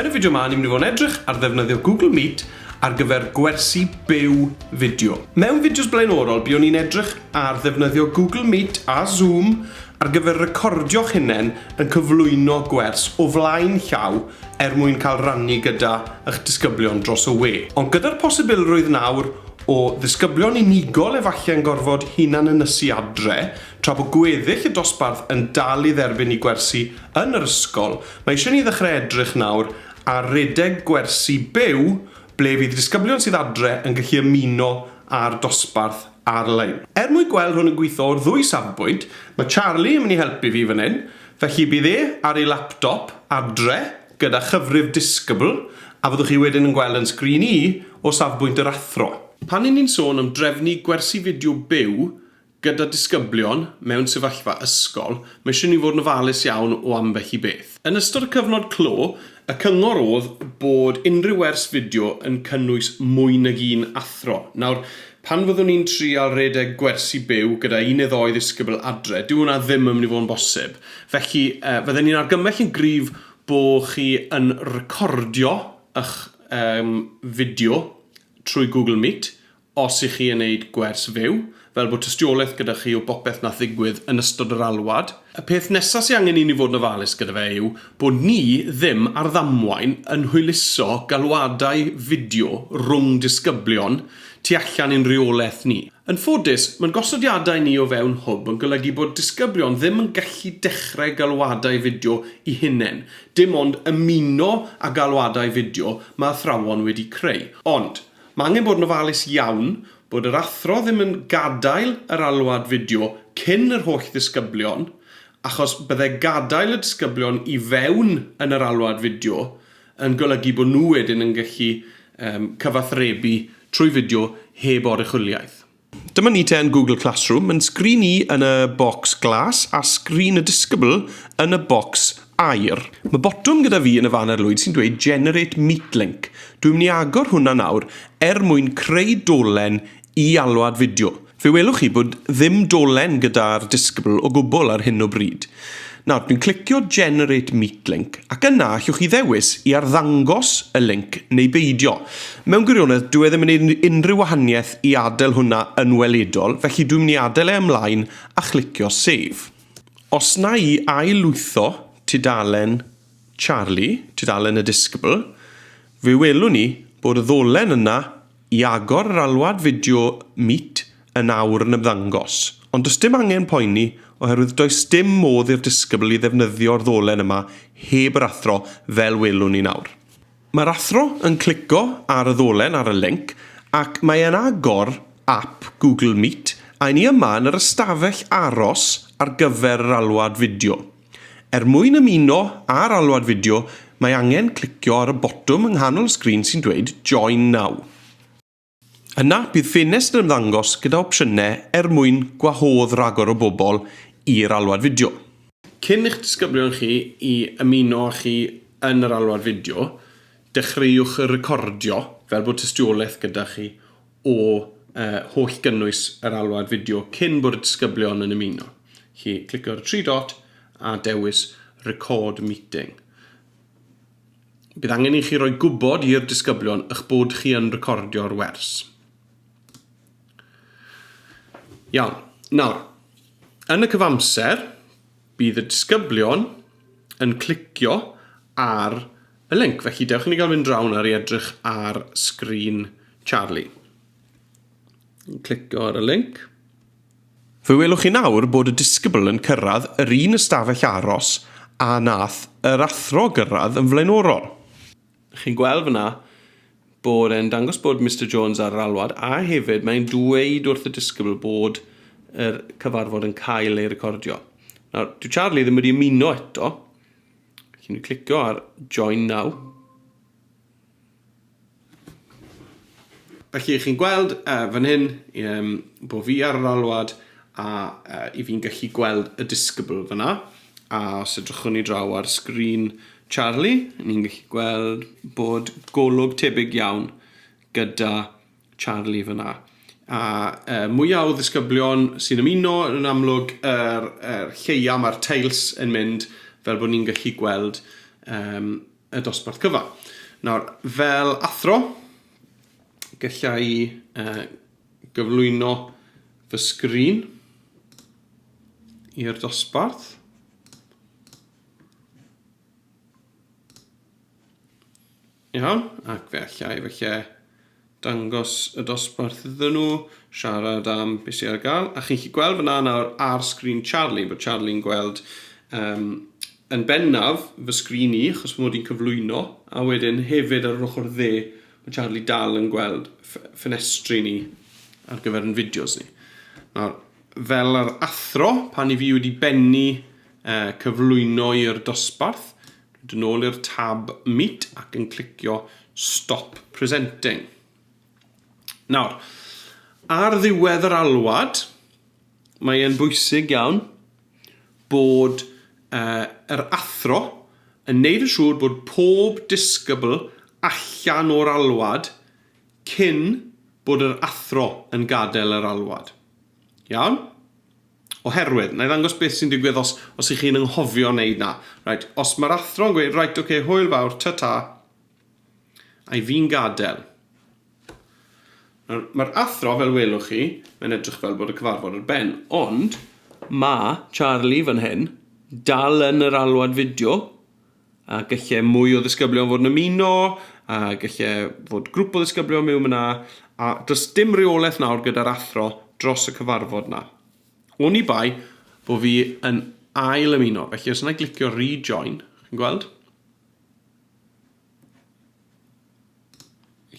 Yn y fideo 'ma, ni'n mynd i fod yn edrych ar ddefnyddio Google Meet ar gyfer gwersi byw fideo. Mewn fideos blaenorol, buon ni'n edrych ar ddefnyddio Google Meet a Zoom ar gyfer recordio'ch hunain yn cyflwyno gwers o flaen llaw er mwyn cael rannu gyda ych disgyblion dros y we. Ond gyda'r posibilrwydd nawr O ddisgyblion unigol efallai yn gorfod hunan-ynysu adre, tra bod gweddill y dosbarth yn dal i dderbyn eu gwersi yn yr ysgol, mae eisiau ni ddechrau edrych nawr ar redeg gwersi byw ble fydd disgyblion sydd adre yn gallu ymuno â'r dosbarth ar-lein. Er mwyn gweld hwn yn gweithio o'r ddwy safbwynt, mae Charlie yn mynd i helpu fi fan hyn, felly bydd e ar ei laptop adre gyda chyfrif disgybl, a fyddwch chi wedyn yn gweld yn sgrin i, o safbwynt yr athro. Pan ry'n ni'n sôn am drefnu gwersi fideo byw gyda disgyblion mewn sefyllfa ysgol, mae eisiau ni fod yn ofalus iawn o ambell i beth. Yn ystod y cyfnod clo, y cyngor oedd bod unrhyw wers fideo yn cynnwys mwy nag un athro. Nawr, Pan fyddwn i'n trial rhedeg gwersi byw gyda un neu ddou ddisgybl adre, dyw hwnna ddim yn mynd i fod yn bosib. Felly, fydden i'n argymell yn gryf bo chi yn recordio ych fideo trwy Google Meet os y'ch chi yn neud gwers fyw, fel bod tystiolaeth gyda chi o bopeth nath ddigwydd yn ystod yr alwad. Y peth nesa sy angen i ni fod yn ofalus gyda fe yw bo ni ddim ar ddamwain yn hwyluso galwadau fideo rhwng disgyblion tu allan i'n rheolaeth ni. Yn ffodus, mae'n gosodiadau ni o fewn Hwb yn golygu bod disgyblion ddim yn gallu dechrau galwadau fideo i hunain, dim ond ymuno â galwadau fideo mae athrawon wedi creu. Ond, mae angen bod yn ofalus iawn bod yr athro ddim yn gadael yr alwad fideo cyn yr holl ddisgyblion, achos bydde gadael y disgyblion i fewn yn yr alwad fideo yn golygu bod nhw wedyn yn gallu cyfathrebu trwy fideo heb oruchwyliaeth. Dyma ni te yn Google Classroom, yn sgrin i yn y bocs glas a sgrin y disgybl yn y bocs aur. Mae botwm gyda fi yn y fan arlwyd sy'n dweud Generate Meetlink. Dwi'n mynd i agor hwnna nawr er mwyn creu dolen i alwad fideo. Fe welwch chi bod ddim dolen gyda'r disgybl o gwbl ar hyn o bryd. Nawr, dwi'n clicio Generate Meet Link ac yna allwch chi ddewis i arddangos y linc neu beidio. Mewn gwirionedd, dyw e ddim yn neud unrhyw wahaniaeth i adael hwnna yn weledol, felly dwi'n mynd i adael e ymlaen a chlicio Save. Os na i ail-lwytho tudalen Charlie, tudalen y disgybl, fe welwn ni bod y ddolen yna I agor yr alwad fideo Meet yn awr yn ymddangos. Ond does dim angen poeni oherwydd does dim modd i'r disgybl i ddefnyddio'r ddolen yma heb yr athro fel welwn ni nawr. Mae'r athro yn clico ar y ddolen ar y linc ac mae e'n agor ap Google Meet a 'yn ni yma yn yr ystafell aros ar gyfer yr alwad fideo. Er mwyn ymuno â'r alwad fideo, mae angen clicio ar y botwm yng nghanol y sgrin sy'n dweud 'Join Now'. Yna, bydd ffenestr yn ymddangos gyda opsiynau er mwyn gwahodd ragor o bobl i'r alwad fideo. Cyn i'ch disgyblion chi i ymuno â chi yn yr alwad fideo, dechreuwch recordio fel bod tystiolaeth gyda chi o holl gynnwys yr alwad fideo cyn bod y disgyblion yn ymuno. Chi clicio ar y tri dot a dewis Record Meeting. Bydd angen i chi roi gwybod i'r disgyblion eich bod chi yn recordio'r wers. Iawn. Nawr, yn y cyfamser, Bydd y disgyblion yn clicio ar y linc, felly dewch i ni gael mynd draw nawr i edrych ar sgrin Charlie. Yn clicio ar y linc. Fe welwch chi nawr bod y disgybl yn cyrraedd yr un ystafell aros a nath yr athro gyrraedd yn flaenorol. Chi'n gweld fyna bod e'n dangos bod Mister Jones ar yr alwad a hefyd mae'n dweud wrth y disgybl bod yr cyfarfod yn cael ei recordio. Nawr, dyw Charlie ddim wedi ymuno eto. Felly ni'n clicio ar Join Now. Felly, chi'n gweld uh, fan hyn um, bod fi ar yr alwad a uh, i fi'n gallu gweld y disgybl fyna. A os edrychwn ni draw ar sgrin Charlie, ni'n gallu gweld bod golwg tebyg iawn gyda Charlie fyna. A uh, mwyaf o ddisgyblion sy'n ymuno yn amlwg yr er, er lleia mae'r tails yn mynd fel bod ni'n gallu gweld um, y dosbarth cyfan. Nawr, fel athro, gallai i uh, gyflwyno fy sgrin i'r dosbarth. Iawn, ac fe allai felly Dangos y dosbarth iddyn nhw, siarad am be sy ar gael. A chi'n chi gweld fyna nawr ar sgrin Charlie, bod Charlie'n gweld um, yn bennaf fy sgrin i, achos fy mod i'n cyflwyno, a wedyn hefyd ar yr ochr dde, mae Charlie dal yn gweld ffenestri ni ar gyfer yn fideos ni. Nawr, fel yr athro, pan i fi wedi bennu uh, cyflwyno i'r dosbarth, Mynd yn ôl i'r tab Meet ac yn clicio Stop Presenting. Nawr, ar ddiwedd yr alwad, mae e'n bwysig iawn bod uh, yr athro yn neud yn siŵr bod pob disgybl allan o'r alwad cyn bod yr athro yn gadael yr alwad. Iawn? Oherwydd, na i ddangos beth sy'n digwydd os, os ych chi'n ynghofio wneud na. Reit, os mae'r athro'n gweud, reit, oce, okay, hwyl fawr, ta-ta, a'i fi'n gadael. Mae'r athro, fel welwch chi, mae'n edrych fel bod y cyfarfod ar ben, ond mae Charlie fan hyn, dal yn yr alwad fideo, A gallai mwy o ddisgyblion fod yn ymuno, a gallai fod grwp o ddisgyblion mewn yna, a does dim reolaeth nawr gyda'r athro dros y cyfarfod yna. Oni bai bod fi yn ail ymuno, felly os yna glicio rejoin, chi'n gweld?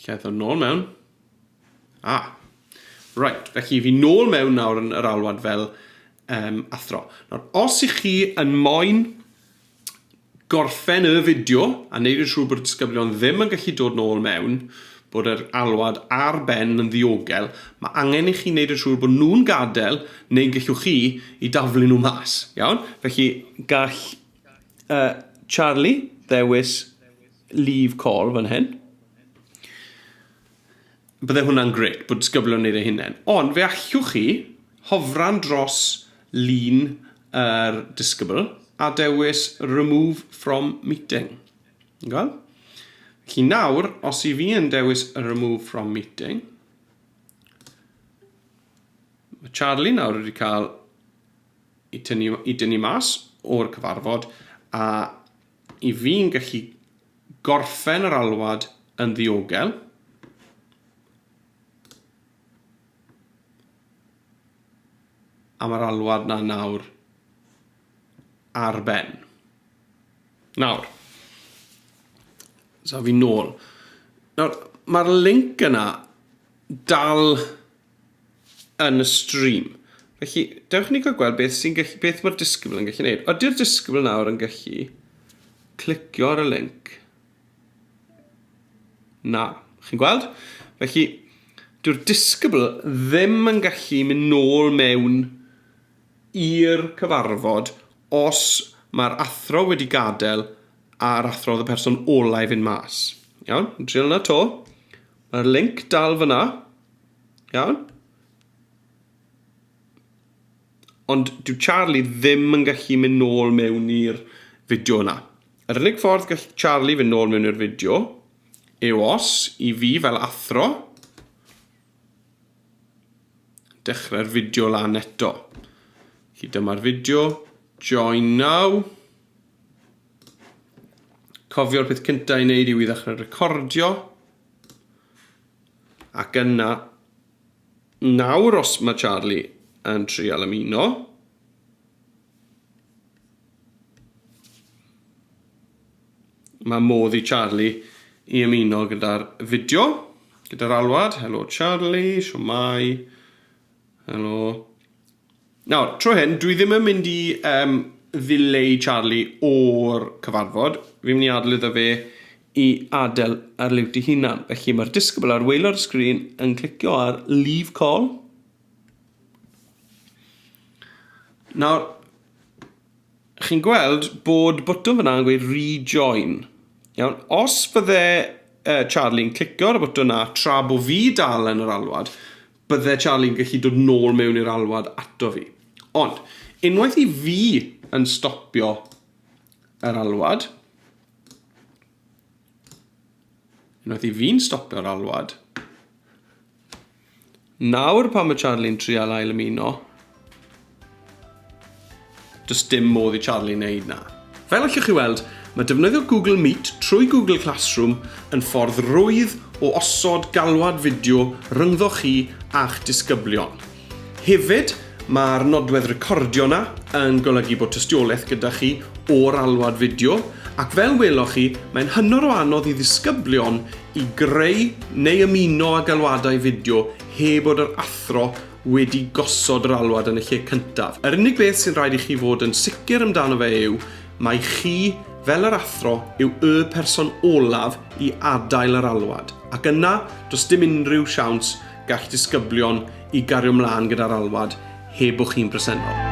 Lle eithaf nôl mewn. Ah, right, felly fi nôl mewn nawr yn yr alwad fel um, athro. Nawr, os i chi yn moyn gorffen y fideo a wneud yn siŵr bod y disgyblion ddim yn gallu dod nôl mewn, bod yr alwad ar ben yn ddiogel, mae angen i chi wneud yn siŵr bod nhw'n gadael neu'n gallwch chi i daflu nhw mas, iawn? Felly gall uh, Charlie ddewis leave call fan hyn. Bydde hwnna'n grêt, bod disgyblion yn wneud eu hunain. Ond fe allwch chi hofran dros lun yr disgybl a dewis remove from meeting. Gweld? Felly nawr, os i fi yn dewis remove from meeting, mae Charlie nawr wedi cael i tynnu, i dynnu mas o'r cyfarfod a i fi'n gallu gorffen yr alwad yn ddiogel. A mae'r alwad na nawr ar ben. Nawr, so fi nôl. Nawr, mae'r link yna dal yn y stream. Felly, dewch ni gael gweld beth sy'n gallu, beth mae'r disgybl yn gallu gwneud. Ydy'r disgybl nawr yn gallu clicio ar y link? Na. Chi'n gweld? Felly, dyw'r disgybl ddim yn gallu mynd nôl mewn i'r cyfarfod os mae'r athro wedi gadael a'r athro oedd y person olau i fynd mas. Iawn, yn driol yna to. Mae'r link dal fyna. Iawn? Ond dyw Charlie ddim yn gallu mynd nôl mewn i'r fideo yna. Yr unig ffordd gall Charlie fynd nôl mewn i'r fideo yw os i fi fel athro dechrau'r fideo lan eto. Felly dyma'r fideo, join now. Cofio'r peth cyntaf i wneud yw i ddechrau recordio. Ac yna, nawr os mae Charlie yn trial ymuno, mae modd i Charlie i ymuno gyda'r fideo, gyda'r alwad, helo Charlie, siwmai, helo, Nawr, tro hyn, dwi ddim yn mynd i um, ddileu Charlie o'r cyfarfod. Fi'n mynd i adael iddo fe i adael ar liwt i hunan. Felly mae'r disgybl ar waelod y sgrin yn clicio ar Leave Call. Nawr, chi'n gweld bod botwm fyna yn gweud rejoin. Iawn, os fydde uh, Charlie'n clicio ar y botwm na tra bod fi dal yn yr alwad, Bydde Charlie'n gallu dod nôl mewn i'r alwad ato fi. Ond, unwaith i fi yn stopio yr alwad, unwaith i fi'n stopio'r alwad, nawr pan mae Charlie'n trial ail ymuno, Does dim modd i Charlie wneud na. Fel allwch chi weld, mae defnyddio Google Meet trwy Google Classroom yn ffordd rwydd o osod galwad fideo rhyngddo chi a'ch disgyblion. Hefyd, mae'r nodwedd recordio yna yn golygu bod tystiolaeth gyda chi o'r alwad fideo, ac fel weloch chi, mae'n hynod o anodd i ddisgyblion i greu neu ymuno â galwadau fideo heb bod yr athro wedi gosod yr alwad yn y lle cyntaf. Yr unig beth sy'n rhaid i chi fod yn sicr amdano fe yw mai chi, fel yr athro, yw y person olaf i adael yr alwad, ac yna, does dim unrhyw siawns gall disgyblion i gario mlaen gyda'r alwad heb bo chi'n bresennol.